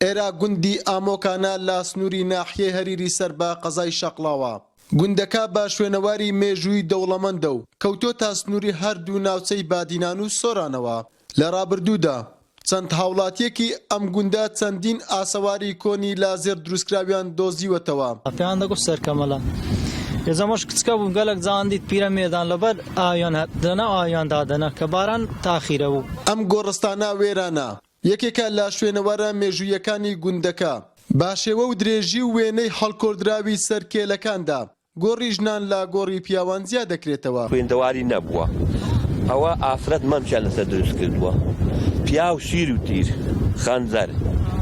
ئێرە گوندی ئامۆکانە لە سنووری ناحیەی هەریری سەر بە قەزای شەقڵاوە. گوندەکە بە شوێنەواری مێژووی دەوڵەمەندە و کەوتۆتە سنووری هەردوو ناوچەی بادینان و سۆرانەوە. لە ڕابردوودا چەند هاوڵاتییەکی ئەم گوندە چەندین ئاسەواری کۆنی لە زێڕ دروستکراویان دۆزیوەتەوە. پێیان دەگوت سەرکەمەلە. یەزەمەش کچکە بوو، گەلەک جان دیت پیرەمێردان لەبەر ئاویان هات، لەناو ئاویان دادەنا، کە باران تاخیرە بوو. ئەم گۆڕستانە وێرانە، یەکێکە لە شوێنەوارە مێژووییەکانی گوندەکە. بە شێوە و درێژی و وێنەی هەڵکۆڵدراوی سەر کێلەکاندا، گۆڕی ژنان لە گۆڕی پیاوان جیا دەکرێتەوە. خوێندەواری نەبووە ئەوە ئافرەت مەمکیان لەسەر دروست کردووە پیاو شیر و تیر خەنجەر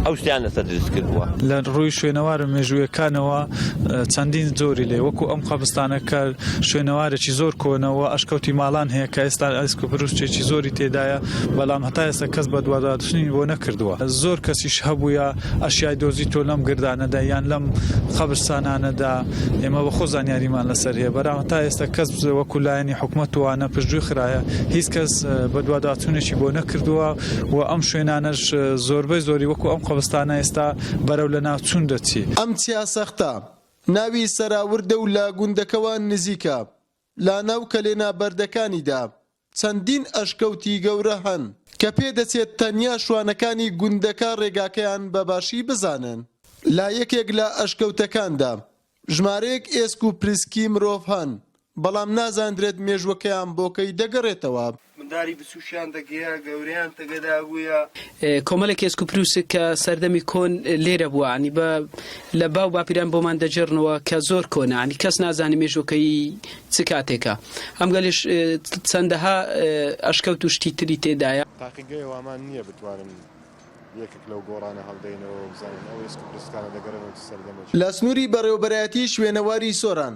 ئەو شتەیان لەسەر دروست کردووە. لە ڕووی شوێنەوارە مێژوویەکانەوە چەندین جۆری لێ وەکوو ئەم قەبستانە کە شوێنەوارێکی زۆر کۆنە و ئەشکەوتی ماڵان هەیە کە ئێستا ئەسک و پروشکێکی زۆری تێدایە بەلام هەتا ئێستا کەس بەدواداچونی بۆ نەکردوە زۆر کەسیش هەبویە ئەشیای دۆزیتۆ لەم گردانەدا یان لەم قەبرسانانەدا ئێمە بەخۆ زانیاریمان لەسەر هەیە بەرام هەتا ئێستا کەس وەکو لایەنی حکومەت وانە پشتگوی خراە هیچ کەس بەدواداچونێکی بۆ نەکردوە و ئەم شوێنانەش زۆربەی زۆری وەکو ئەم قەبرستانە ئێستا بەرەو لەناوچون دەچی. ئەم چیا سەختە ناوی سەراوردە و لە گوندەکەوە نزیکە. لە ناو کەلێنە بەردەکانیدا چەندین ئەشکەوتی گەورە هەن، کە پێ دەچێت تەنیا شوانەکانی گوندەکە ڕێگاکەیان بە باشی بزانن. لە یەکێک لە ئەشکەوتەکاندا ژمارەیەک ئێسک و پریسکی مرۆڤ هەن، بەڵام نازاندرێت مێژووەکەیان بۆ کەی دەگەڕێتەوە. منداری بچوکیان دەگێا گەوریان تەگەدا بویا. کۆمەلێک ئێسک و پروسک کە سەردەمی کۆن لێرە بوە عنی بە لە باو باپیران بۆمان دەجێڕنەوە کە زۆر کۆنە عنی کەس نازانێ مێژوەکەیی چ کاتێکە ئەم گەلێش چەندەها ئەشکەوت و شتی تری تێدایە. تاقیگەی ئەوامان نیە بتوانن یەکێک لەو گۆڕانە هەڵدەینەوە و بزانن ئەو ئێسک و پرسکانە دەگەرێنەوە چ سەردەمێکی. لە سنوری بەڕێوەبەرایەتی شوێنەواری سۆران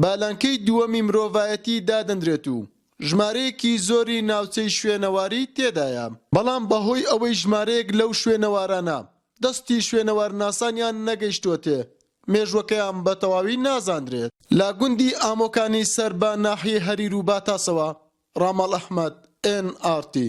بە لانکەی دووەمی مرۆڤایەتی دادەنرێت و ژمارەیەکی زۆری ناوچەی شوێنەواری تێدایە، بەڵام بەهۆی ئەوەی ژمارەیەک لەو شوێنەوارانە دەستی شوێنەوارناسانیان نەگەیشتووەتێ، مێژووەکەیان بە تەواوی نازاندرێت. لە گوندی ئامۆکانی سەر بە ناحیەی هەریر و باتاسەوە، ڕاماڵ ئەحمەد، ئێن ئاڕ تی.